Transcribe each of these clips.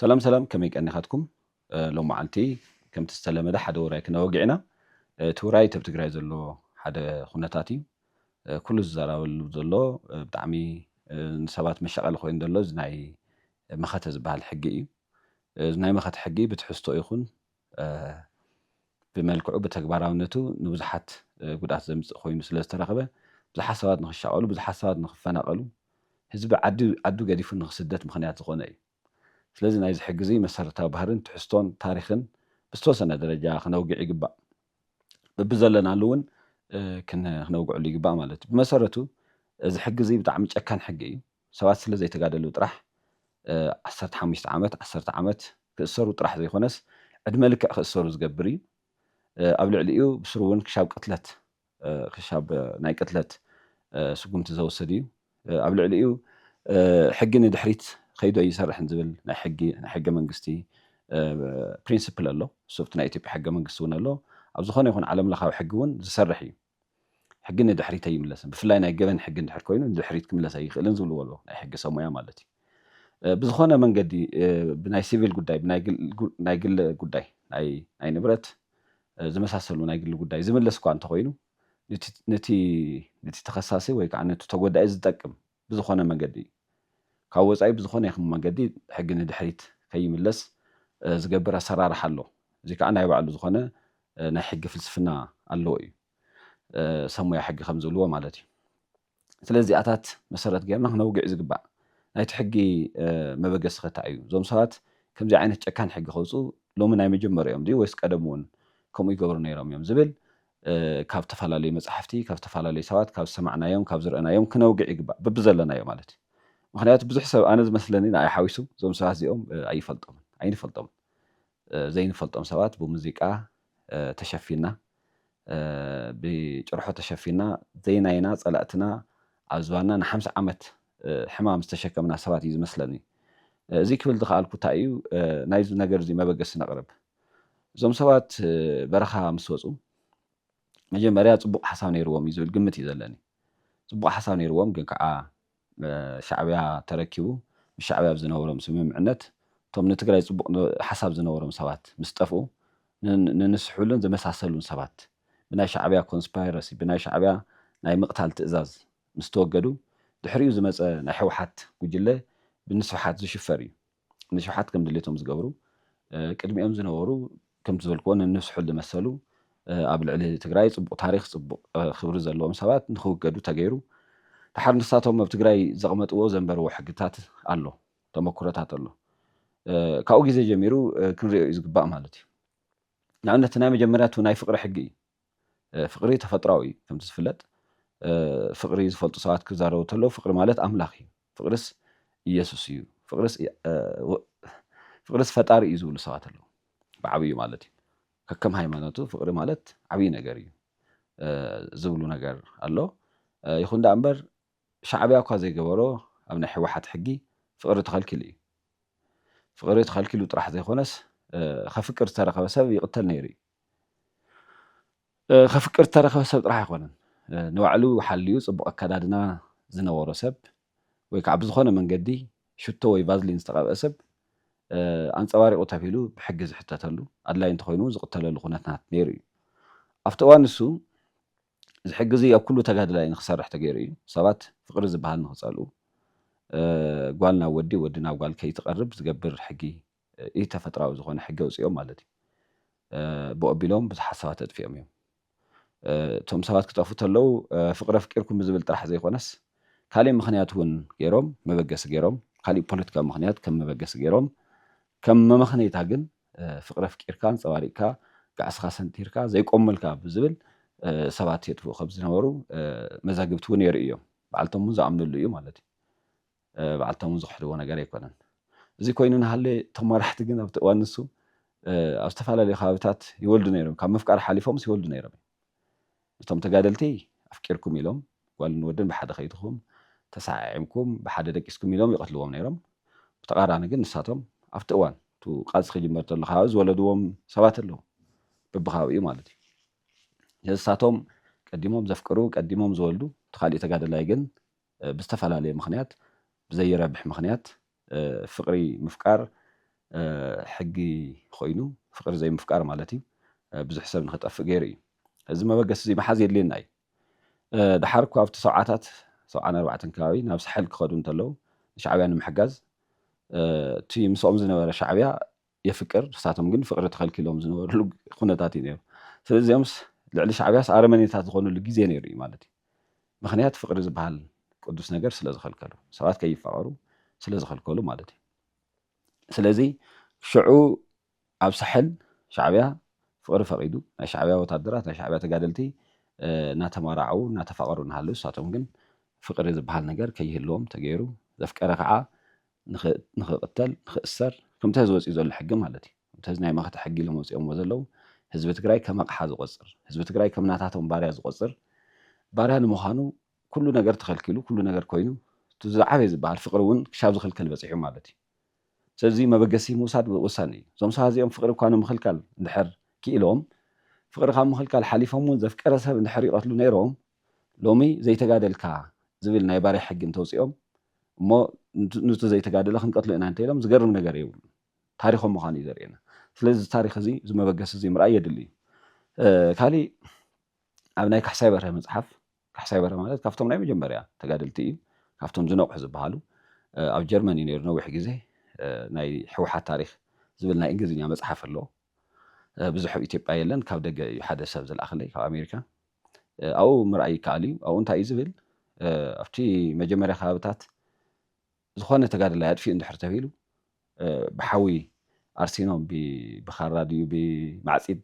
ሰላም ሰላም ከመይ ቀኒኻትኩም ሎም መዓልቲ ከምቲ ዝተለመደ ሓደ ውራይ ክነወግዕ ኢና እቲ ውራይ ተብ ትግራይ ዘሎ ሓደ ኩነታት እዩ ኩሉ ዝዘራበሉ ዘሎ ብጣዕሚ ንሰባት መሻቐሊ ኮይኑ ዘሎ እዚ ናይ መኸተ ዝበሃል ሕጊ እዩ እዚ ናይ መኸተ ሕጊ ብትሕዝቶ ይኹን ብመልክዑ ብተግባራውነቱ ንብዙሓት ጉድኣት ዘምጽእ ኮይኑ ስለ ዝተረኽበ፣ ብዙሓት ሰባት ንኽሻቐሉ፣ ብዙሓት ሰባት ንኽፈናቐሉ፣ ህዝቢ ዓዲ ዓዱ ገዲፉ ንኽስደት ምኽንያት ዝኾነ እዩ። ስለዚ ናይዚ ሕጊ'ዚ መሰረታዊ ባህርን ትሕዝቶን ታሪኽን ብዝተወሰነ ደረጃ ክነውግዕ ይግባእ። በብዘለናሉ እውን ክነውግዐሉ ይግባእ ማለት እዩ። ብመሰረቱ እዚ ሕጊ'ዚ ብጣዕሚ ጨካን ሕጊ እዩ። ሰባት ስለ ዘይተጋደሉ ጥራሕ ዓሰርተ ሓሙሽተ ዓመት፣ ዓሰርተ ዓመት ክእሰሩ ጥራሕ ዘይኮነስ ዕድመ ልክዕ ክእሰሩ ዝገብር እዩ። ኣብ ልዕሊኡ ብስሩ እውን ክሻብ ቅትለት ክሻብ ናይ ቅትለት ስጉምቲ ዘውስድ እዩ። ኣብ ልዕሊኡ ሕጊ ንድሕሪት ከይዱ ኣይሰርሕን ዝብል ናይ ሕጊ ናይ ሕገ መንግስቲ ፕሪንስፕል ኣሎ። እሱ ኣብቲ ናይ ኢትዮጵያ ሕገ መንግስቲ እውን ኣሎ። ኣብ ዝኾነ ይኹን ዓለም ለኻዊ ሕጊ እውን ዝሰርሕ እዩ። ሕጊ ንድሕሪት ኣይምለስን፣ ብፍላይ ናይ ገበን ሕጊ እንድሕር ኮይኑ ንድሕሪት ክምለስ ኣይኽእልን ዝብልዎ ኣለዉ፣ ናይ ሕጊ ሰብ ሞያ ማለት እዩ። ብዝኾነ መንገዲ ብናይ ሲቪል ጉዳይ፣ ብናይ ግሊ ጉዳይ፣ ናይ ንብረት ዝመሳሰሉ ናይ ግሊ ጉዳይ ዝምለስ እኳ እንተኾይኑ ንቲ ተኸሳሲ ወይ ከዓ ንቲ ተጎዳኢ ዝጠቅም ብዝኾነ መንገዲ ካብ ወፃኢ ብዝኾነ ይኹን መንገዲ ሕጊ ንድሕሪት ከይምለስ ዝገብር ኣሰራርሓ ኣሎ። እዚ ከዓ ናይ ባዕሉ ዝኾነ ናይ ሕጊ ፍልስፍና ኣለዎ እዩ። ሰብ ሞያ ሕጊ ከም ዝብልዎ ማለት እዩ። ስለዚ እዚኣታት መሰረት ገይርና ክነውግዕ ዝግባእ ናይቲ ሕጊ መበገሲ ከ እንታይ እዩ? እዞም ሰባት ከምዚ ዓይነት ጨካን ሕጊ ከውፅኡ ሎሚ ናይ መጀመርኦም ድዩ ወይስ ቀደም እውን ከምኡ ይገብሩ ነይሮም እዮም ዝብል ካብ ተፈላለዩ መጻሕፍቲ፣ ካብ ዝተፈላለዩ ሰባት፣ ካብ ዝሰማዕናዮም፣ ካብ ዝረእናዮም ክነውግዕ ይግባእ። በብዘለናዮ ማለት እዩ። ምኽንያቱ ብዙሕ ሰብ ኣነ ዝመስለኒ ንኣይ ሓዊሱ እዞም ሰባት እዚኦም ኣይፈልጦምን፣ ኣይንፈልጦምን። ዘይንፈልጦም ሰባት ብሙዚቃ ተሸፊንና፣ ብጭርሖ ተሸፊንና ዘይናይና ጸላእትና ኣብ ዝባንና ንሓምሳ ዓመት ሕማም ዝተሸከምና ሰባት እዩ ዝመስለኒ። እዚ ክብል ዝኸኣልኩ እንታይ እዩ ናይዚ ነገርዚ መበገሲ ነቕርብ። እዞም ሰባት በረኻ ምስ ወጹ መጀመርያ ጽቡቕ ሓሳብ ነይርዎም እዩ ዝብል ግምት እዩ ዘለኒ። ጽቡቕ ሓሳብ ነይርዎም ግን ከዓ ሻዕብያ ተረኪቡ ምስ ሻዕብያ ኣብ ዝነበሮም ስምምዕነት እቶም ንትግራይ ጽቡቕ ሓሳብ ዝነበሮም ሰባት ምስ ጠፍኡ ንንስሕሉን ዝመሳሰሉን ሰባት ብናይ ሻዕብያ ኮንስፓይረሲ ብናይ ሻዕብያ ናይ ምቕታል ትእዛዝ ምስ ተወገዱ ድሕሪኡ ዝመጸ ናይ ህውሓት ጉጅለ ብንስብሓት ዝሽፈር እዩ። ንሽውሓት ከም ድሌቶም ዝገብሩ ቅድሚኦም ዝነበሩ ከምቲ ዝበልክዎ ነንስሑ ዝመሰሉ ኣብ ልዕሊ ትግራይ ፅቡቅ ታሪክ ፅቡቅ ክብሪ ዘለዎም ሰባት ንክውገዱ ተገይሩ ድሓር ንሳቶም ኣብ ትግራይ ዘቅመጥዎ ዘንበርዎ ሕግታት ኣሎ ተመኩሮታት ኣሎ ካብኡ ግዜ ጀሚሩ ክንሪኦ እዩ ዝግባእ ማለት እዩ ንኣብነት ናይ መጀመርያ እቲ ናይ ፍቅሪ ሕጊ እዩ ፍቅሪ ተፈጥራዊ እዩ ከምቲ ዝፍለጥ ፍቅሪ ዝፈልጡ ሰባት ክዛረቡ ተለው ፍቅሪ ማለት ኣምላኽ እዩ ፍቅርስ ኢየሱስ እዩ ፍቅርስ ፍቅርስ ፈጣሪ እዩ ዝብሉ ሰባት ኣለው ብዓብዩ ማለት እዩ ከከም ሃይማኖቱ ፍቅሪ ማለት ዓብይ ነገር እዩ ዝብሉ ነገር ኣሎ ይኹን ደኣ እምበር ሻዕብያ እኳ ዘይገበሮ ኣብ ናይ ሕወሓት ሕጊ ፍቅሪ ተኸልኪሉ እዩ ፍቅሪ ተኸልኪሉ ጥራሕ ዘይኾነስ ከፍቅር ዝተረኸበ ሰብ ይቅተል ነይሩ እዩ ከፍቅር ዝተረኸበ ሰብ ጥራሕ ኣይኮነን ንባዕሉ ሓልዩ ጽቡቕ ኣከዳድና ዝነበሮ ሰብ ወይ ከዓ ብዝኾነ መንገዲ ሽቶ ወይ ቫዝሊን ዝተቐብአ ሰብ ኣንጸባሪቑ ተብሂሉ ብሕጊ ዝሕተተሉ ኣድላይ እንተኾይኑ እውን ዝቕተለሉ ኩነታት ነይሩ እዩ። ኣብቲ እዋን ንሱ እዚ ሕጊ እዚ ኣብ ኩሉ ተጋድላይ ንክሰርሕ ተገይሩ እዩ። ሰባት ፍቕሪ ዝበሃል ንክጸልኡ ጓል ናብ ወዲ ወዲ ናብ ጓል ከይትቐርብ ዝገብር ሕጊ ኢ-ተፈጥራዊ ዝኾነ ሕጊ ኣውጺኦም ማለት እዩ። ብኡ ኣቢሎም ብዙሓት ሰባት ኣጥፊኦም እዮም። እቶም ሰባት ክጠፍኡ ተለው ፍቕሪ ኣፍቂርኩም ብዝብል ጥራሕ ዘይኮነስ ካሊእ ምኽንያት እውን ገይሮም መበገሲ ገይሮም ካሊእ ፖለቲካዊ ምኽንያት ከም መበገሲ ገይሮም ከም መመኽነይታ ግን ፍቕሪ ኣፍቂርካ ኣንጸባሪቕካ ጋዕስኻ ሰንቲርካ ዘይቆምልካ ብዝብል ሰባት የጥፍኡ ከም ዝነበሩ መዛግብቲ እውን የርእዩ እዮም። በዓልቶም እውን ዝኣምንሉ እዩ ማለት እዩ። በዓል ተሙ ዝኽሕድዎ ነገር ኣይኮነን። እዚ ኮይኑ እናሃለየ እቶም መራሕቲ ግን ኣብቲ እዋን ንሱ ኣብ ዝተፈላለዩ ከባቢታት ይወልዱ ነይሮም ካብ ምፍቃር ሓሊፎምስ ይወልዱ ነይሮም እዮም። ነቶም ተጋደልቲ ኣፍቂርኩም ኢሎም ጓልን ወድን ብሓደ ከይድኹም ተሰዓዒምኩም ብሓደ ደቂስኩም ኢሎም ይቐትልዎም ነይሮም። ብተቓራኒ ግን ንሳቶም ኣብቲ እዋን እቱ ቃልሲ ክጅመር ተሎ ከባቢ ዝወለድዎም ሰባት ኣለዉ በብከባቢኡ ማለት እዩ። ስለዚ ንሳቶም ቀዲሞም ዘፍቅሩ ቀዲሞም ዝወልዱ እቲ ካሊእ ተጋደላይ ግን ብዝተፈላለየ ምኽንያት ብዘይረብሕ ምኽንያት ፍቅሪ ምፍቃር ሕጊ ኾይኑ ፍቅሪ ዘይምፍቃር ማለት እዩ ብዙሕ ሰብ ንኽጠፍእ ገይሩ እዩ እዚ መበገሲ እዚ ምሓዝ የድልየና እዩ ደሓር እኳ ኣብቲ ሰብዓታት ሰብዓን ኣርባዕተን ከባቢ ናብ ሳሕል ክኸዱ እንተለዉ ንሻዕብያ ንምሕጋዝ እቲ ምስኦም ዝነበረ ሻዕብያ የፍቅር ንሳቶም ግን ፍቅሪ ተኸልኪሎም ዝነበርሉ ኩነታት እዩ ነይሩ ስለዚ እዚኦምስ ልዕሊ ሻዕብያስ ኣረመኔታት ዝኾንሉ ግዜ ነይሩ እዩ ማለት እዩ ምኽንያት ፍቅሪ ዝበሃል ቅዱስ ነገር ስለ ዝኸልከሉ ሰባት ከይፋቀሩ ስለ ዝኸልከሉ ማለት እዩ ስለዚ ሽዑ ኣብ ሳሕል ሻዕብያ ፍቅሪ ፈቂዱ ናይ ሻዕብያ ወታደራት ናይ ሻዕብያ ተጋደልቲ እናተማራዓዉ እናተፋቀሩ እናሃለዉ ንሳቶም ግን ፍቅሪ ዝበሃል ነገር ከይህልዎም ተገይሩ ዘፍቀረ ከዓ ንክቕተል ንክእሰር ክምቲ ሀዚ ወፂኡ ዘሎ ሕጊ ማለት እዩ ከምቲ ሀዚ ናይ መኸተ ሕጊ ኢሎም ኣውፂኦምዎ ዘለው ህዝቢ ትግራይ ከም ኣቕሓ ዝቖፅር ህዝቢ ትግራይ ከም ናታቶም ባርያ ዝቖፅር ባርያ ንምዃኑ ኩሉ ነገር ተኸልኪሉ ኩሉ ነገር ኮይኑ እቲ ዝዓበየ ዝበሃል ፍቕሪ እውን ክሻብ ዝኽልከል በፂሑ ማለት እዩ ስለዚ እዙይ መበገሲ ምውሳድ ወሳኒ እዩ እዞም ሰባት እዚኦም ፍቕሪ እኳ ንምኽልካል እንድሕር ክኢሎም ፍቕሪ ካብ ምኽልካል ሓሊፎም እውን ዘፍቀረ ሰብ እንድሕር ይቐትሉ ነይሮም ሎሚ ዘይተጋደልካ ዝብል ናይ ባርያ ሕጊ እንተውጺኦም እሞ ኑቲ ዘይተጋደለ ክንቀትሎ ኢና እንተኢሎም ዝገርም ነገር የብሉን። ታሪኾም ምዃኑ እዩ ዘርእየና። ስለዚ እዚ ታሪኽ እዚ እዚ መበገሲ እዚ ምርኣይ የድሊ እዩ። ካሊእ ኣብ ናይ ካሕሳይ በርሀ መጽሓፍ ካሕሳይ በርሀ ማለት ካብቶም ናይ መጀመርያ ተጋደልቲ እዩ። ካብቶም ዝነቕሑ ዝበሃሉ ኣብ ጀርመን እዩ ነይሩ ነዊሕ ግዜ ናይ ሕውሓት ታሪኽ ዝብል ናይ እንግሊዝኛ መጽሓፍ ኣሎ ብዙሕ ኣብ ኢትዮጵያ የለን ካብ ደገ እዩ ሓደ ሰብ ዝለኣኸለይ ካብ ኣሜሪካ ኣብኡ ምርኣይ ይከኣል እዩ። ኣብኡ እንታይ እዩ ዝብል ኣብቲ መጀመርያ ከባብታት ዝኾነ ተጋድላይ ኣጥፊኡ እንድሕር ተብሂሉ ብሓዊ ኣርሲኖም ብኻራ ድዩ ብማዕፂድ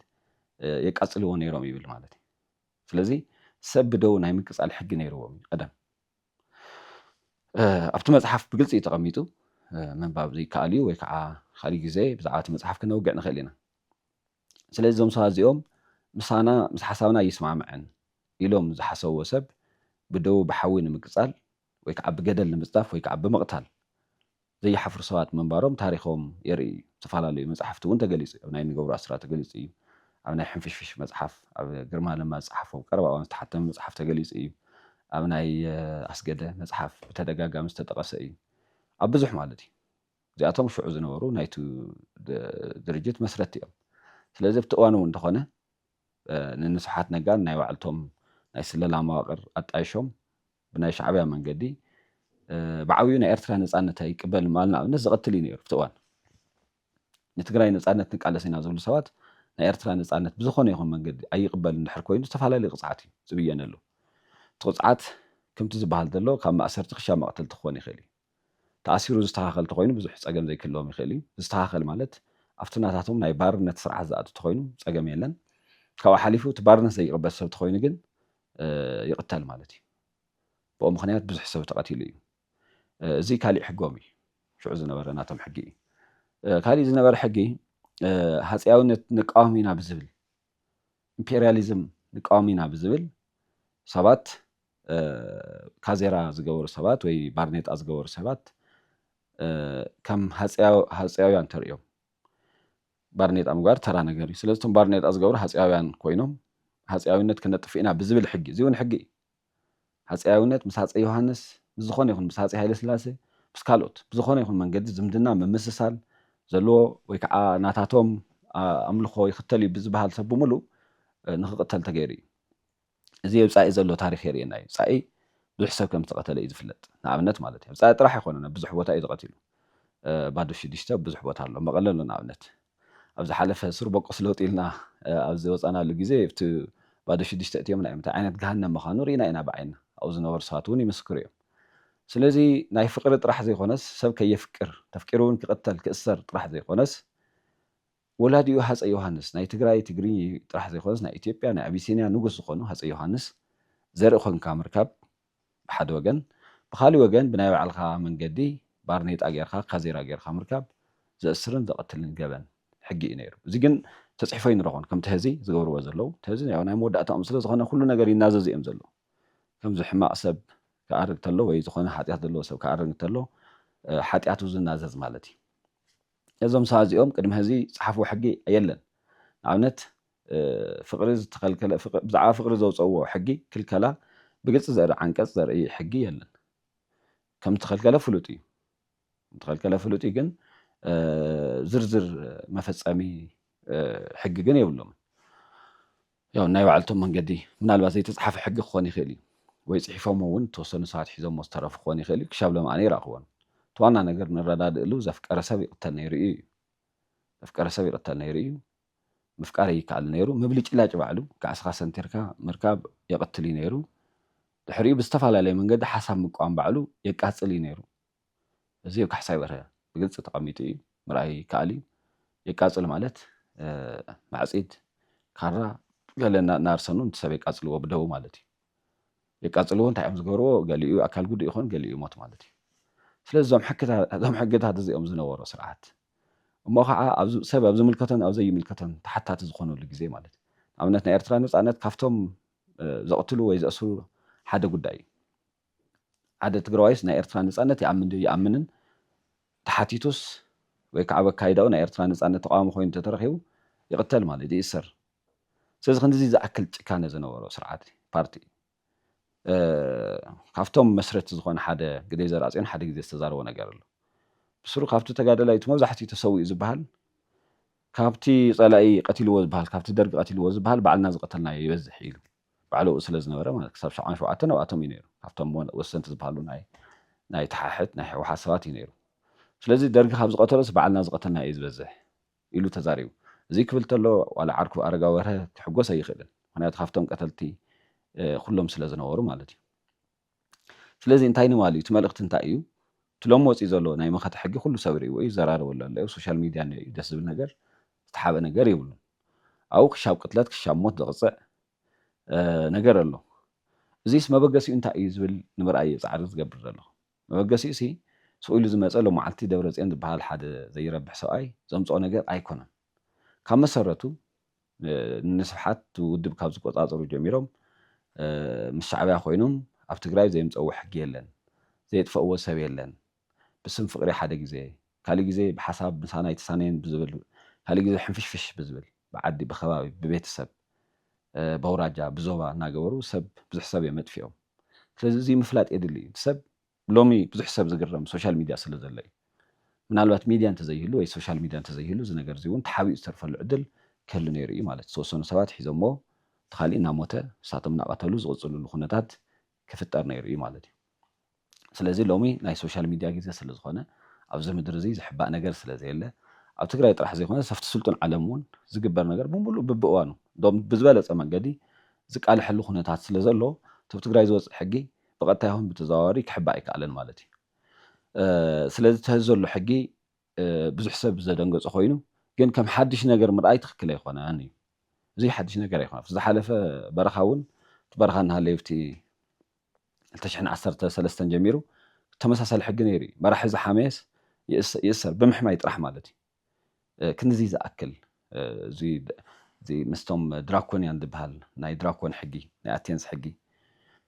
የቃፅልዎ ነይሮም ይብል ማለት እዩ። ስለዚ ሰብ ብደው ናይ ምቅፃል ሕጊ ነይርዎም እዩ ቀደም። ኣብቲ መፅሓፍ ብግልፂ እዩ ተቐሚጡ ምንባብ ዘይከኣል እዩ ወይ ከዓ ካሊእ ግዜ ብዛዕባ እቲ መፅሓፍ ክነውግዕ ንኽእል ኢና። ስለዚ እዞም ሰባት እዚኦም ምሳና ምስ ሓሳብና ኣይስማዕምዕን ኢሎም ዝሓሰብዎ ሰብ ብደዉ ብሓዊ ንምቅጻል ወይ ክዓ ብገደል ንምጽዳፍ ወይ ክዓ ብምቅታል ዘይሓፍሩ ሰባት ምንባሮም ታሪኾም የርኢ እዩ ዝተፈላለዩ መጻሕፍቲ እዉን ተገሊጹ እዩ ኣብ ናይ ንገብሩ ኣስራት ተገሊጹ እዩ ኣብ ናይ ሕንፍሽፍሽ መጽሓፍ ኣብ ግርማ ለማ ዝጸሓፎ ቀረባ እዋን ዝተሓተመ መጽሓፍ ተገሊጹ እዩ ኣብ ናይ ኣስገደ መጽሓፍ ብተደጋጋሚ ዝተጠቐሰ እዩ ኣብ ብዙሕ ማለት እዩ እዚኣቶም ሽዑ ዝነበሩ ናይቱ ድርጅት መስረቲ እዮም። ስለዚ ኣብቲ እዋን እውን እንተኾነ ንንስብሓት ነጋን ናይ ባዕልቶም ናይ ስለላ መዋቕር ኣጣይሾም ብናይ ሻዕብያ መንገዲ ብዓብዩ ናይ ኤርትራ ነፃነት ኣይቅበልን ምባል ንኣብነት ዘቐትል እዩ ነይሩ ኣብቲ እዋን ንትግራይ ነፃነት ንቃለስ ኢና ዝብሉ ሰባት ናይ ኤርትራ ነፃነት ብዝኾነ ይኹን መንገዲ ኣይቕበል እንድሕር ኮይኑ ዝተፈላለዩ ቅፅዓት እዩ ዝብየነሉ እቲ ቅፅዓት ከምቲ ዝበሃል ዘሎ ካብ ማእሰርቲ ክሻብ መቕተልቲ ክኾን ይኽእል እዩ ተኣሲሩ ዝስተኻኸል ተኾይኑ ብዙሕ ጸገም ዘይክህልዎም ይኽእል እዩ። ዝስተኻኸል ማለት ኣብቲ ናታቶም ናይ ባርነት ስርዓት ዝኣቱ ተኾይኑ ጸገም የለን። ካብኡ ሓሊፉ እቲ ባርነት ዘይቕበል ሰብ ተኾይኑ ግን ይቕተል ማለት እዩ። ብኡ ምኽንያት ብዙሕ ሰብ ተቐቲሉ እዩ። እዚ ካሊእ ሕጎም እዩ። ሽዑ ዝነበረ ናቶም ሕጊ እዩ። ካሊእ ዝነበረ ሕጊ ሃጸያውነት ንቃወም ኢና ብዝብል ኢምፔርያሊዝም ንቃወም ኢና ብዝብል ሰባት ካዜራ ዝገበሩ ሰባት ወይ ባርኔጣ ዝገበሩ ሰባት ከም ሃጸያውያን ተርእዮም። ባርኔጣ ምግባር ተራ ነገር እዩ። ስለዚ እቶም ባርኔጣ ዝገብሩ ሃጸያውያን ኮይኖም ሃጸያዊነት ክነጥፍእ ኢና ብዝብል ሕጊ፣ እዚ እውን ሕጊ እዩ። ሃጸያዊነት ምስ ሃጸይ ዮሃንስ፣ ምስ ዝኾነ ይኹን ምስ ሃጸይ ሃይለስላሴ፣ ምስ ካልኦት ብዝኾነ ይኹን መንገዲ ዝምድና ምምስሳል ዘለዎ ወይ ከዓ ናታቶም ኣምልኾ ይኽተል እዩ ብዝበሃል ሰብ ብምሉእ ንክቕተል ተገይሩ እዩ። እዚ ኣብ ጻኢ ዘሎ ታሪኽ የርእየና እዩ። ጻኢ ብዙሕ ሰብ ከም ዝተቐተለ እዩ ዝፍለጥ። ንኣብነት ማለት እዩ። ኣብ ጻኢ ጥራሕ ኣይኮነን ኣብ ብዙሕ ቦታ እዩ ተቐቲሉ። ባዶ ሽዱሽተ ኣብ ብዙሕ ቦታ ኣሎ። መቐለ ኣሎ ንኣብነት። ኣብ ዝሓለፈ ሱር ቦቆስ ለውጢ ኢልና ኣብ ዝወጻናሉ ግዜ ኣብቲ ባዶ ሽዱሽተ እትዮምና እዮም። እንታይ ዓይነት ገሃነም ምኻኑ ርኢና ኢና ብዓይንና። ኣብኡ ዝነበሩ ሰባት እውን ይምስክሩ እዮም። ስለዚ ናይ ፍቅሪ ጥራሕ ዘይኮነስ ሰብ ከየፍቅር ተፍቂሩ እውን ክቅተል ክእሰር ጥራሕ ዘይኮነስ ወላዲኡ ሃጸይ ዮሃንስ ናይ ትግራይ ትግርኚ ጥራሕ ዘይኮነስ ናይ ኢትዮጵያ ናይ ኣቢሲንያ ንጉስ ዝኾኑ ሃጸይ ዮሃንስ ዘርኢ ኮንካ ምርካብ ብሓደ ወገን፣ ብኻሊእ ወገን ብናይ ባዕልኻ መንገዲ ባርኔጣ ጌርካ ካዜራ ጌርካ ምርካብ ዘእስርን ዘቐትልን ገበን ሕጊ ኢዩ ነይሩ። እዚ ግን ተጽሒፎ ኣይንረኽቦን ከምቲ ሀዚ ዝገብርዎ ዘለዉ። እቲ ሀዚ ያው ናይ መወዳእታኦም ስለ ዝኾነ ኩሉ ነገር ይናዘዙ ኢዮም ዘለዉ። ከምዚ ሕማቕ ሰብ ክኣርግ ተሎ ወይ ዝኾነ ሓጢኣት ዘለዎ ሰብ ክኣርግ እንተሎ ሓጢኣቱ ዝናዘዝ ማለት ኢዩ። እዞም ሰባት እዚኦም ቅድሚ ሀዚ ዝጸሓፍዎ ሕጊ የለን። ንኣብነት ፍቕሪ ዝተኸልከለ ብዛዕባ ፍቕሪ ዘውጸእዎ ሕጊ ክልከላ ብግልጺ ዘርኢ ዓንቀጽ ዘርኢ ሕጊ የለን። ከም ዝተኸልከለ ፍሉጥ እዩ። ዝተኸልከለ ፍሉጥ እዩ ግን ዝርዝር መፈጸሚ ሕጊ ግን የብሎምን። ያው ናይ ባዕልቶም መንገዲ ምናልባት ዘይተጻሓፈ ሕጊ ክኾን ይኽእል እዩ ወይ ጽሒፎሞ እውን ተወሰኑ ሰባት ሒዞሞ ዝተረፉ ክኾን ይኽእል እዩ ክሻብ ሎም ኣነ ይረኽቦን እቲ ዋና ነገር ንረዳድእሉ ዘፍቀረ ሰብ ይቕተል ነይሩ እዩ ዘፍቀረ ሰብ ይቕተል ነይሩ እዩ ምፍቃር ኣይከኣልን ነይሩ። ምብልጭላጭ ባዕሉ ካዕስኻ ሰንቲርካ ምርካብ የቕትል እዩ ነይሩ። ድሕሪኡ ብዝተፈላለየ መንገዲ ሓሳብ ምቅዋም ባዕሉ የቃጽል እዩ ነይሩ። እዚ ኣብ ካሕሳይ በርሀ ብግልጺ ተቐሚጡ እዩ፣ ምርኣይ ይከኣል እዩ። የቃጽል ማለት ማዕጺድ፣ ካራ፣ ገለ እናኣርሰኑ ነቲ ሰብ የቃጽልዎ ብደዉ ማለት እዩ። የቃጽልዎ እንታይ እዮም ዝገብርዎ? ገሊኡ ኣካል ጉዱእ ይኾን ገሊኡ ይሞት ማለት እዩ። ስለዚ እዞም ሕግታት እዚኦም ዝነበሮ ስርዓት እሞ ኸዓ ኣብ ሰብ ኣብ ዝምልከቶን ኣብ ዘይምልከቶን ተሓታቲ ዝኾነሉ ግዜ ማለት እዩ። ንኣብነት ናይ ኤርትራ ነጻነት ካብቶም ዘቕትሉ ወይ ዘእስሩ ሓደ ጉዳይ እዩ። ሓደ ትግራዋይስ ናይ ኤርትራ ነጻነት ይኣምን ድዩ ይኣምንን ተሓቲቱስ ወይ ከዓ በካይዳኡ ናይ ኤርትራ ነጻነት ተቓዋሚ ኮይኑ እንተተረኺቡ ይቕተል ማለት ይእሰር። ስለዚ ክንድዚ ዝኣክል ጭካነ ዝነበሮ ስርዓት ፓርቲ እዩ። ካብቶም መስረቲ ዝኾነ ሓደ ግደይ ዘርኣጽዮን ሓደ ግዜ ዝተዛረቦ ነገር ኣሎ ብስሩ ካብቲ ተጋደላይ እቲ መብዛሕትኡ ተሰዊኡ ዝብሃል ካብቲ ጸላኢ ቀቲልዎ ዝብሃል ካብቲ ደርጊ ቀቲልዎ ዝብሃል ባዕልና ዝቀተልናዮ ይበዝሕ ኢሉ ባዕሉ ኣብኡ ስለ ዝነበረ ማለት ክሳብ ሻዕባን ሸውዓተን ኣብኣቶም እዩ ነይሩ ካብቶም ወሰንቲ ዝበሃሉ ናይ ናይ ተሓሕት ናይ ህወሓት ሰባት እዩ ነይሩ ስለዚ ደርጊ ካብ ዝቀተሎስ ባዕልና ዝቀተልና እዩ ዝበዝሕ ኢሉ ተዛሪቡ። እዙይ ክብል ተሎ ዋላ ዓርኩ ኣረጋ ወርሀ ክሕጎስ ኣይኽእልን ምኽንያቱ ካብቶም ቀተልቲ ኹሎም ስለ ዝነበሩ ማለት እዩ። ስለዚ እንታይ ንባል እዩ እቲ መልእኽቲ እንታይ እዩ እቲ ሎሚ ወፂኡ ዘሎ ናይ መኸተ ሕጊ ኩሉ ሰብ ሪእዎ እዩ ይዘራረበሉ ኣሎ ኣብ ሶሻል ሚድያ እኒኦ እዩ ደስ ዝብል ነገር ዝተሓበ ነገር የብሉን ኣብኡ ክሻብ ቅትለት ክሻብ ሞት ዘቕፅዕ ነገር ኣሎ እዚስ መበገሲኡ እንታይ እዩ ዝብል ንምርኣይ እየ ፃዕሪ ዝገብር ዘለኹ። መበገሲኡሲ ስቅ ኢሉ ዝመጸ ሎማዓልቲ ደብረጽዮን ዝብሃል ሓደ ዘይረብሕ ሰብኣይ ዘምጽኦ ነገር ኣይኮነን ካብ መሰረቱ ንስብሓት ውድብ ካብ ዝቆጻጸሩ ጀሚሮም ምስ ሻዕብያ ኮይኖም ኣብ ትግራይ ዘየምጸእዎ ሕጊ የለን ዘየጥፈእዎ ሰብ የለን ብስም ፍቅሪ ሓደ ግዜ ካሊእ ግዜ ብሓሳብ ምሳና ኣይተሳነየን ብዝብል ካሊእ ግዜ ሕንፍሽፍሽ ብዝብል ብዓዲ ብከባቢ ብቤተሰብ በውራጃ ብዞባ እናገበሩ ሰብ ብዙሕ ሰብ እዮም ኣጥፊኦም ስለዚ እዙይ ምፍላጥ የድሊ እዩ ሰብ ሎሚ ብዙሕ ሰብ ዝግረም ሶሻል ሚድያ ስለ ዘሎ እዩ ምናልባት ሚድያ እንተዘይህሉ ወይ ሶሻል ሚድያ እንተዘይህሉ እዚ ነገር እዙይ እውን ተሓቢኡ ዝተርፈሉ ዕድል ክህሉ ነይሩ እዩ ማለት ዝተወሰኑ ሰባት ሒዞምዎ እቲ ካሊእ እናሞተ ንሳቶም እናቐተሉ ዝቕፅልሉ ኩነታት ክፍጠር ነይሩ እዩ ማለት እዩ። ስለዚ ሎሚ ናይ ሶሻል ሚድያ ግዜ ስለዝኾነ ኣብዚ ምድሪ እዚ ዝሕባእ ነገር ስለዘየለ ኣብ ትግራይ ጥራሕ ዘይኮነስ ኣብቲ ስልጡን ዓለም እውን ዝግበር ነገር ብምሉእ ብብእዋኑ እንድውም ብዝበለፀ መንገዲ ዝቃለሐሉ ኩነታት ስለዘሎ እቲ ኣብ ትግራይ ዝወፅእ ሕጊ ብቐጥታ ይኹን ብተዘዋዋሪ ክሕባእ ኣይከኣለን ማለት እዩ። ስለዚ እቲ ሐዚ ዘሎ ሕጊ ብዙሕ ሰብ ዘደንገጾ ኮይኑ ግን ከም ሓድሽ ነገር ምርኣይ ትኽክል ኣይኮነን እዩ። እዚ ሓድሽ ነገር ኣይኮነ ኣብቲ ዝሓለፈ በረኻ እውን እቲ በረኻ እናሃለዩ ኣብቲ ክልተ ሽሕን ዓሰርተ ሰለስተን ጀሚሩ ተመሳሳሊ ሕጊ ነይሩ እዩ። መራሒ ዝሓመየስ ይእሰር ብምሕማይ ጥራሕ ማለት እዩ። ክንድዚ ዝኣክል እዚ ምስቶም ድራኮንያን ዝበሃል ናይ ድራኮን ሕጊ፣ ናይ ኣቴንስ ሕጊ፣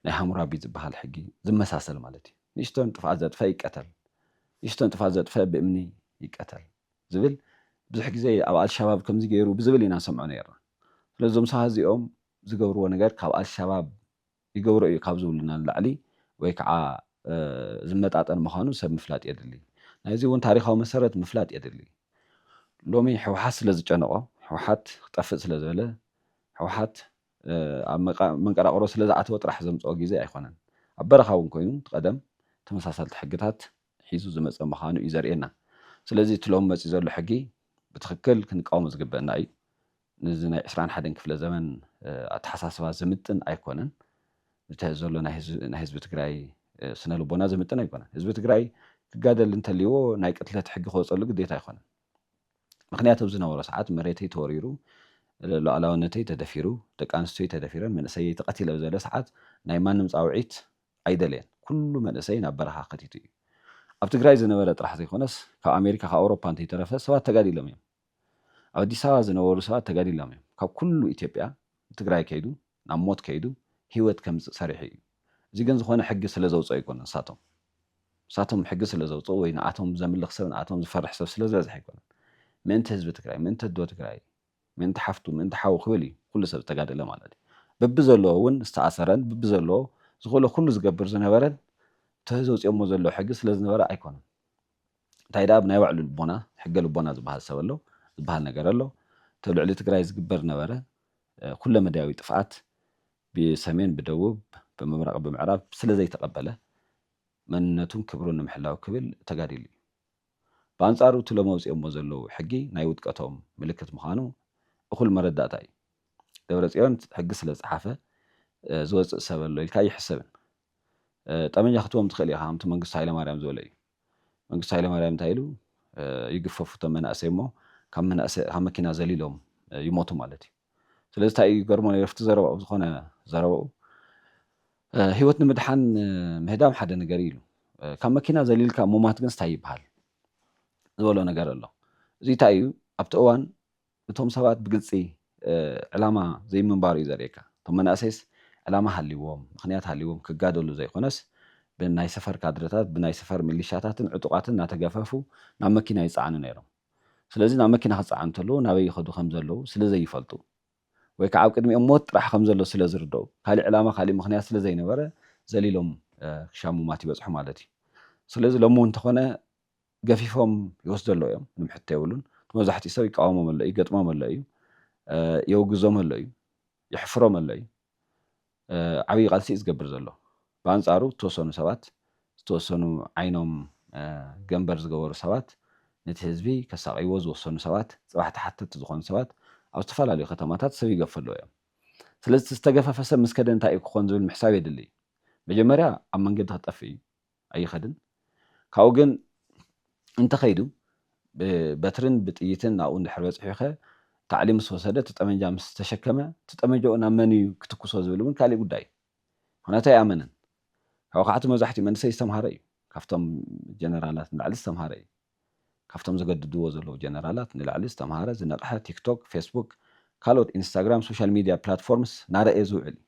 ናይ ሃሙራቢ ዝበሃል ሕጊ ዝመሳሰል ማለት እዩ። ንእሽቶ ጥፍኣት ዘጥፈኣ ይቀተል፣ ንእሽቶ ጥፍኣት ዘጥፈኣ ብእምኒ ይቀተል ዝብል ብዙሕ ግዜ ኣብ ኣልሻባብ ከምዚ ገይሩ ብዝብል ኢና ንሰምዖ ኔርና። ስለዚ እዞም ሰባት እዚኦም ዝገብርዎ ነገር ካብ ኣልሻባብ ይገብሮ እዩ ካብ ዝብሉና ንላዕሊ ወይ ከዓ ዝመጣጠን ምዃኑ ሰብ ምፍላጥ የድሊ። ናይዚ እውን ታሪኻዊ መሰረት ምፍላጥ የድሊ። ሎሚ ህወሓት ስለ ዝጨነቖ፣ ህወሓት ክጠፍእ ስለ ዝበለ፣ ህወሓት ኣብ መንቀራቕሮ ስለ ዝኣተወ ጥራሕ ዘምፀኦ ጊዜ ኣይኮነን። ኣብ በረኻ እውን ኮይኑ እቲ ቀደም ተመሳሳልቲ ሕግታት ሒዙ ዝመፀ ምዃኑ እዩ ዘርእየና። ስለዚ እቲ ሎሚ መፂኡ ዘሎ ሕጊ ብትኽክል ክንቃወሞ ዝግበእና እዩ። ነዚ ናይ ዕስራን ሓደን ክፍለ ዘመን ኣተሓሳስባ ዝምጥን ኣይኮነን። ነቲ ሐዚ ዘሎ ናይ ህዝቢ ትግራይ ስነ ልቦና ዝምጥን ኣይኮነን። ህዝቢ ትግራይ ክጋደል እንተልይዎ ናይ ቅትለት ሕጊ ክወፀሉ ግዴታ ኣይኮነን። ምኽንያት ኣብ ዝነበሮ ሰዓት መሬተይ ተወሪሩ፣ ሉኣላውነተይ ተደፊሩ፣ ደቂ ኣንስትዮይ ተደፊረን፣ መንእሰየይ ተቐቲለ ኣብ ዝበለ ሰዓት ናይ ማንም ፃውዒት ኣይደለየን። ኩሉ መንእሰይ ናብ በረኻ ከቲቱ እዩ። ኣብ ትግራይ ዝነበረ ጥራሕ ዘይኮነስ ካብ ኣሜሪካ ካብ ኣውሮፓ እንተይተረፈ ሰባት ተጋዲሎም እዮም። ኣብ ኣዲስ ኣበባ ዝነበሩ ሰባት ተጋዲሎም እዮም ካብ ኩሉ ኢትዮጵያ ትግራይ ከይዱ ናብ ሞት ከይዱ ሂወት ከምፅእ ሰሪሑ እዩ እዚ ግን ዝኾነ ሕጊ ስለ ዘውፀኡ ኣይኮነን ንሳቶም ንሳቶም ሕጊ ስለ ዘውፀኡ ወይ ንኣቶም ዘምልኽ ሰብ ንኣቶም ዝፈርሕ ሰብ ስለ ዝበዝሐ ኣይኮነን ምእንቲ ህዝቢ ትግራይ ምእንቲ ኣዶ ትግራይ ምእንቲ ሓፍቱ ምእንቲ ሓዉ ክብል እዩ ኩሉ ሰብ ዝተጋደለ ማለት እዩ በብዘለዎ እውን ዝተኣሰረን በብዘለዎ ዝኽእሎ ኩሉ ዝገብር ዝነበረን እቲ ዘውፂኦሞ ዘለዉ ሕጊ ስለ ዝነበረ ኣይኮነን እንታይ ደኣ ብናይ ባዕሉ ልቦና ሕገ ልቦና ዝበሃል ሰብ ኣሎ ዝበሃል ነገር ኣሎ እቲ ኣብ ልዕሊ ትግራይ ዝግበር ነበረ ኩለ መዳያዊ ጥፍኣት ብሰሜን ብደቡብ ብምብራቕ ብምዕራብ ስለ ዘይተቐበለ መንነቱን ክብሩን ንምሕላው ክብል ተጋዲሉ እዩ ብኣንጻሩ እቲ ሎሚ ኣውጺኦሞ ዘለዉ ሕጊ ናይ ውድቀቶም ምልክት ምዃኑ እኹል መረዳእታ እዩ ደብረጽዮን ሕጊ ስለ ዝጸሓፈ ዝወጽእ ሰብ ኣሎ ኢልካ ኣይሕሰብን ጠመንጃ ክትቦም ትኽእል ኢኻ ከምቲ መንግስቱ ሃይለማርያም ዝበለ እዩ። መንግስቱ ሃይለማርያም እንታይ ኢሉ ይግፈፉ እቶም መናእሰይ እሞ ካብ መናእሰይ ካብ መኪና ዘሊሎም ይሞቱ ማለት እዩ ስለዚ እንታይ እዩ ይገርሞ ነይሩ ኣብቲ ዘረባኡ ዝኾነ ዘረባኡ ህይወት ንምድሓን ምህዳም ሓደ ነገር እዩ ኢሉ ካብ መኪና ዘሊልካ ሙማት ግን እንታይ ይበሃል ዝበሎ ነገር ኣሎ እዚ እንታይ እዩ ኣብቲ እዋን እቶም ሰባት ብግልፂ ዕላማ ዘይምንባሩ እዩ ዘርእየካ። እቶም መናእሰይስ ዕላማ ሃልይዎም፣ ምኽንያት ሃልይዎም ክጋደሉ ዘይኮነስ ብናይ ሰፈር ካድረታት፣ ብናይ ሰፈር ሚሊሻታትን ዕጡቓትን እናተገፈፉ ናብ መኪና ይፀዓኑ ነይሮም። ስለዚ ናብ መኪና ክፀዓኑ እንተለዉ ናበይ ይኸዱ ከምዘለዉ ስለዘይፈልጡ ወይ ከዓ ኣብ ቅድሚኦም ሞት ጥራሕ ከምዘሎ ስለዝርደኡ ካሊእ ዕላማ ካሊእ ምኽንያት ስለዘይነበረ ዘሊሎም ክሻ ሙማት ይበፅሑ ማለት እዩ። ስለዚ ሎሚ እውን እንተኾነ ገፊፎም ይወስዶ ኣለዉ እዮም ምንም ሕቶ የብሉን እቲ መብዛሕትኡ ሰብ ይቃወሞም ኣሎ እዩ ይገጥሞም ኣሎ እዩ የውግዞም ኣሎ እዩ የሕፍሮም ኣሎ እዩ ዓብዪ ቃልሲ እዩ ዝገብር ዘሎ ብኣንጻሩ ዝተወሰኑ ሰባት ዝተወሰኑ ዓይኖም ገንበር ዝገበሩ ሰባት ነቲ ህዝቢ ከሳቕይዎ ዝወሰኑ ሰባት ጽባሕ ተሓተቲ ዝኾኑ ሰባት ኣብ ዝተፈላለዩ ከተማታት ሰብ ይገፉ ኣለዉ እዮም ስለዚ እቲ ዝተገፈፈ ሰብ ምስ ከደ እንታይ እዩ ክኾን ዝብል ምሕሳብ የድሊ እዩ መጀመርያ ኣብ መንገዲ ክጠፍእ እዩ ኣይኸድን ካብኡ ግን እንተኸይዱ ብበትርን ብጥይትን ናብኡ እንድሕር በጺሑኸ ታዕሊም ምስ ወሰደ እቲ ጠመንጃ ምስ ተሸከመ እቲ ጠመንጃኡ ናብ መን እዩ ክትኩሶ ዝብል እውን ካሊእ ጉዳይ እዩ ምኽንያቱ ኣይኣመነን ካብኡ ከዓቱ መብዛሕቲኡ መንእሰይ ዝተምሃረ እዩ ካብቶም ጀነራላት ንላዕሊ ዝተምሃረ እዩ ካብቶም ዘገድድዎ ዘለዉ ጀነራላት ንላዕሊ ዝተምሃረ፣ ዝነቕሐ፣ ቲክቶክ፣ ፌስቡክ፣ ካልኦት ኢንስታግራም፣ ሶሻል ሚድያ ፕላትፎርምስ ናረእየ ዝውዕል እዩ።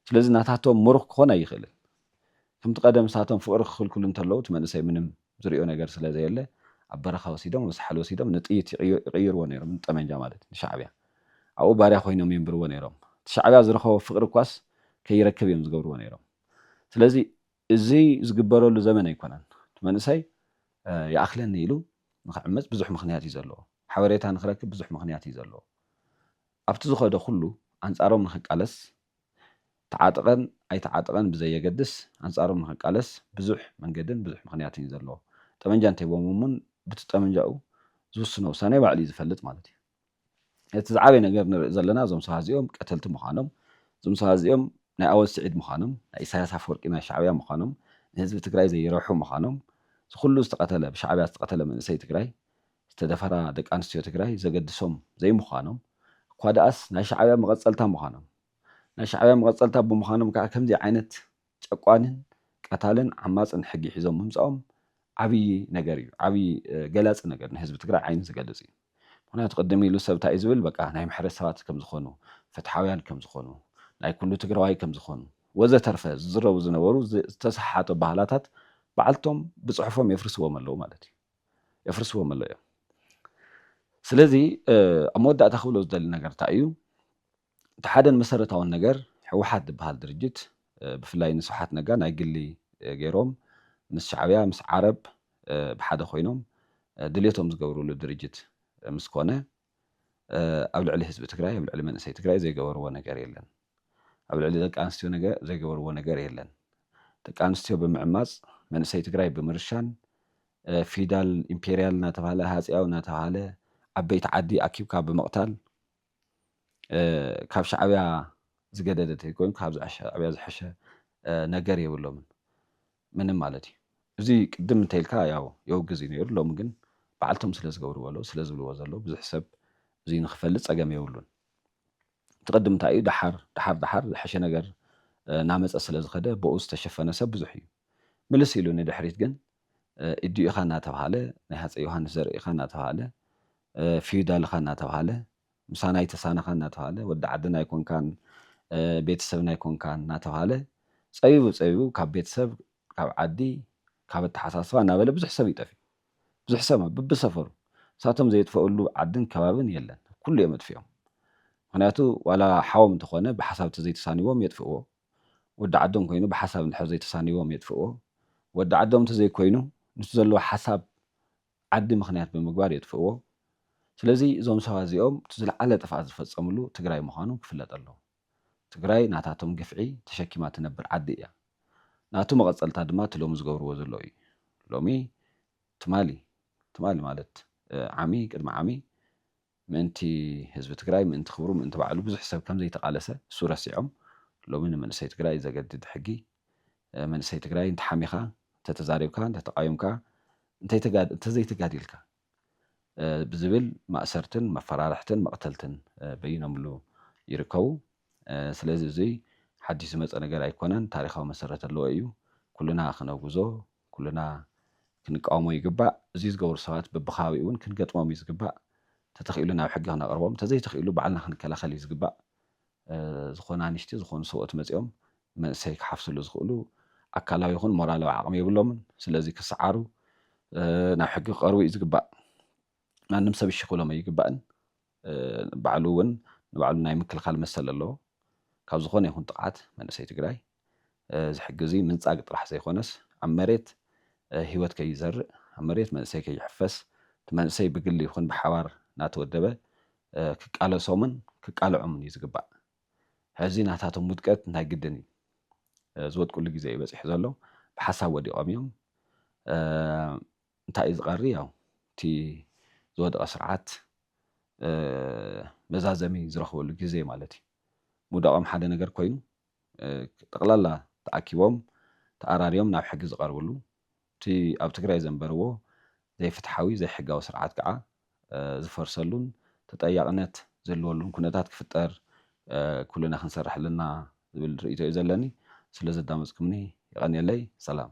ስለዚ ናታቶም ምሩኽ ክኾን ኣይኽእልን። ከምቲ ቀደም ንሳቶም ፍቕሪ ክኽልክሉ እንተለዉ እቲ መንእሰይ ምንም ዝሪኦ ነገር ስለዘየለ ኣብ በረኻ ወሲዶም ኣብ ሳሕል ወሲዶም ንጥይት ይቕይርዎ ነይሮም ንጠመንጃ ማለት ንሻዕብያ ኣብኡ ባርያ ኮይኖም የንብርዎ ነይሮም እቲ ሻዕብያ ዝረኸቦ ፍቕሪ እኳስ ከይረክብ እዮም ዝገብርዎ ነይሮም ስለዚ እዚ ዝግበረሉ ዘመን ኣይኮነን። እቲ መንእሰይ ይኣኽለኒ ኢሉ ንኽዕመጽ ብዙሕ ምኽንያት እዩ ዘለዎ። ሓበሬታ ንኽረክብ ብዙሕ ምኽንያት እዩ ዘለዎ። ኣብቲ ዝኸዶ ኩሉ ኣንጻሮም ንኽቃለስ ተዓጥቀን ኣይተዓጥቀን ብዘየገድስ ኣንጻሮም ንኽቃለስ ብዙሕ መንገድን ብዙሕ ምኽንያትን እዩ ዘለዎ። ጠመንጃ እንተሂቦምዎ እውን ብቲ ጠመንጃኡ ዝውስኖ ውሳኔ ባዕሉ እዩ ዝፈልጥ ማለት እዩ። እቲ ዝዓበየ ነገር ንርኢ ዘለና እዞም ሰባት እዚኦም ቀተልቲ ምዃኖም፣ እዞም ሰባት እዚኦም ናይ ኣወል ስዒድ ምዃኖም፣ ናይ ኢሳያስ ኣፍወርቂ ናይ ሻዕብያ ምዃኖም፣ ንህዝቢ ትግራይ ዘይረብሑ ምዃኖም፣ እዚ ኩሉ ዝተቐተለ ብሻዕብያ ዝተቐተለ መንእሰይ ትግራይ፣ ዝተደፈራ ደቂ ኣንስትዮ ትግራይ ዘገድሶም ዘይምዃኖም፣ እኳ ደኣስ ናይ ሻዕብያ መቐጸልታ ምዃኖም፣ ናይ ሻዕብያ መቐጸልታ ብምዃኖም ከኣ ከምዚ ዓይነት ጨቋንን ቀታልን ዓማጽን ሕጊ ሒዞም ምምጻኦም ዓብይ ነገር እዩ ዓብይ ገላጺ ነገር ናይ ህዝቢ ትግራይ ዓይኑ ዝገልጽ እዩ ምኽንያቱ ቅድም ኢሉ ሰብ ታይ ዝብል በቃ ናይ ምሕረት ሰባት ከም ዝኾኑ ፍትሓውያን ከም ዝኾኑ ናይ ኩሉ ትግራዋይ ከም ዝኾኑ ወዘተርፈ ዝዝረቡ ዝነበሩ ዝተሰሓሓቱ ኣባሃላታት ባዕልቶም ብጽሑፎም የፍርስዎም ኣለው ማለት እዩ የፍርስዎም ኣለው እዮም ስለዚ ኣብ መወዳእታ ክብሎ ዝደሊ ነገር ታይ እዩ እቲ ሓደን መሰረታውን ነገር ህወሓት ዝብሃል ድርጅት ብፍላይ ንስብሓት ነጋ ናይ ግሊ ገይሮም ምስ ሻዕብያ ምስ ዓረብ ብሓደ ኮይኖም ድልየቶም ዝገብርሉ ድርጅት ምስ ኮነ ኣብ ልዕሊ ህዝቢ ትግራይ ኣብ ልዕሊ መንእሰይ ትግራይ ዘይገበርዎ ነገር የለን ኣብ ልዕሊ ደቂ ኣንስትዮ ነገ ዘይገበርዎ ነገር የለን ደቂ ኣንስትዮ ብምዕማፅ መንእሰይ ትግራይ ብምርሻን ፊዳል ኢምፔርያል እናተብሃለ ሃፀያዊ እናተብሃለ ዓበይቲ ዓዲ ኣኪብካ ብምቕታል ካብ ሻዕብያ ዝገደደ ተይኮይኑ ካብዚ ሻዕብያ ዝሐሸ ነገር የብሎምን ምንም ማለት እዩ እዚ ቅድም እንተይልካ ያው የውግዝ እዩ ነይሩ ሎሚ ግን በዓልቶም ስለ ዝገብርዎ ኣለዉ ስለ ዝብልዎ ዘለዉ ብዙሕ ሰብ እዚ ንክፈልጥ ጸገም የብሉን እቲ ቅድም እንታይ እዩ ደሓር ደሓር ደሓር ዝሐሸ ነገር ናመጸ ስለ ዝኸደ ብኡ ዝተሸፈነ ሰብ ብዙሕ እዩ ምልስ ኢሉ ንድሕሪት ግን ኢዱኢኻ እናተብሃለ፣ ናይ ሃጸይ ዮሃንስ ዘርኢ ኢኻ እናተብሃለ፣ ፊዩዳል ኢኻ እናተብሃለ፣ ምሳና ኣይተሳነኻ እናተብሃለ፣ ወዲ ዓድና ኣይኮንካን፣ ቤተ ሰብና ኣይኮንካን እናተብሃለ ጸቢቡ ጸቢቡ ካብ ቤተ ሰብ፣ ካብ ዓዲ፣ ካብ ኣተሓሳስባ እናበለ ብዙሕ ሰብ እዩ ጠፊኡ። ብዙሕ ሰብ ብብሰፈሩ። ንሳቶም ዘየጥፈእሉ ዓድን ከባብን የለን። ኩሉ እዮም ኣጥፊኦም። ምኽንያቱ ዋላ ሓዎም እንተኾነ ብሓሳብ ተዘይተሳንይዎም የጥፍእዎ። ወዲ ዓዶም ኮይኑ ብሓሳብ እንድሕር ዘይተሳንይዎም የጥፍእዎ። ወዲ ዓዶም እንተዘይኮይኑ ምስቲ ዘለዎ ሓሳብ ዓዲ ምኽንያት ብምግባር የጥፍእዎ። ስለዚ እዞም ሰባት እዚኦም እቲ ዝልዓለ ጥፍኣት ዝፈፀምሉ ትግራይ ምዃኑ ክፍለጥ ኣለዎ። ትግራይ ናታቶም ግፍዒ ተሸኪማ ትነብር ዓዲ እያ። ናቱ መቐፀልታ ድማ እቲ ሎሚ ዝገብርዎ ዘለዉ እዩ። ሎሚ ትማሊ ትማሊ ማለት ዓሚ ቅድሚ ዓሚ ምእንቲ ህዝቢ ትግራይ ምእንቲ ክብሩ ምእንቲ ባዕሉ ብዙሕ ሰብ ከምዘይተቃለሰ እሱ ረሲዖም ሎሚ ንመንእሰይ ትግራይ ዘገድድ ሕጊ መንእሰይ ትግራይ እንተሓሚኻ እንተተዛሪብካ እንተተቃዊምካ እንተዘይተጋዲልካ ብዝብል ማእሰርትን መፈራርሕትን መቅተልትን በይኖምሉ ይርከቡ ስለዚ እዙይ ሓዲሽ ዝመፀ ነገር ኣይኮነን ታሪኻዊ መሰረት ኣለዎ እዩ ኩልና ክነውግዞ ኩልና ክንቃወሞ ይግባእ። እዙይ ዝገብሩ ሰባት በቢከባቢኡ እውን ክንገጥሞም እዩ ዝግባእ። ተተኺኢሉ ናብ ሕጊ ክነቕርቦም ተዘይተኺኢሉ ባዕልና ክንከላኸል እዩ ዝግባእ። ዝኾነ ኣንሽቲ ዝኾኑ ሰብኡት መፂኦም መንእሰይ ክሓፍስሉ ዝኽእሉ ኣካላዊ ይኹን ሞራላዊ ዓቕሚ የብሎምን። ስለዚ ክሰዓሩ ናብ ሕጊ ክቐርቡ እዩ ዝግባእ። ማንም ሰብ እሺ ክብሎም ኣይግባእን። ባዕሉ ውን ንባዕሉ ናይ ምክልኻል መሰል ኣለዎ። ካብ ዝኾነ ይኹን ጥቕዓት መንእሰይ ትግራይ ዝሕግዙ ምንፃግ ጥራሕ ዘይኾነስ ኣብ መሬት ሂወት ከይዘርእ ኣብ መሬት መንእሰይ ከይሕፈስ እቲ መንእሰይ ብግሊ ይኹን ብሓባር ናተወደበ ክቃለሶምን ክቃለዖምን እዩ ዝግባእ። ሕዚ ናታቶም ውድቀት ናይ ግድን እዩ። ዝወድቅሉ ግዜ እዩ በፂሑ ዘሎ። ብሓሳብ ወዲቖም እዮም። እንታይ እዩ ዝቐሪ ያው እቲ ዝወደቐ ስርዓት መዛዘሚ ዝረኽበሉ ግዜ ማለት እዩ። ምውዳቖም ሓደ ነገር ኮይኑ ጠቕላላ ተኣኪቦም ተኣራርዮም ናብ ሕጊ ዝቐርብሉ እቲ ኣብ ትግራይ ዘንበርዎ ዘይፍትሓዊ ዘይሕጋዊ ስርዓት ከዓ ዝፈርሰሉን ተጠያቕነት ዝህልወሉን ኩነታት ክፍጠር ኩልና ክንሰርሕ ኣለና ዝብል ርኢቶ እዩ ዘለኒ። ስለዘዳመፅኩምኒ የቐንየለይ። ሰላም።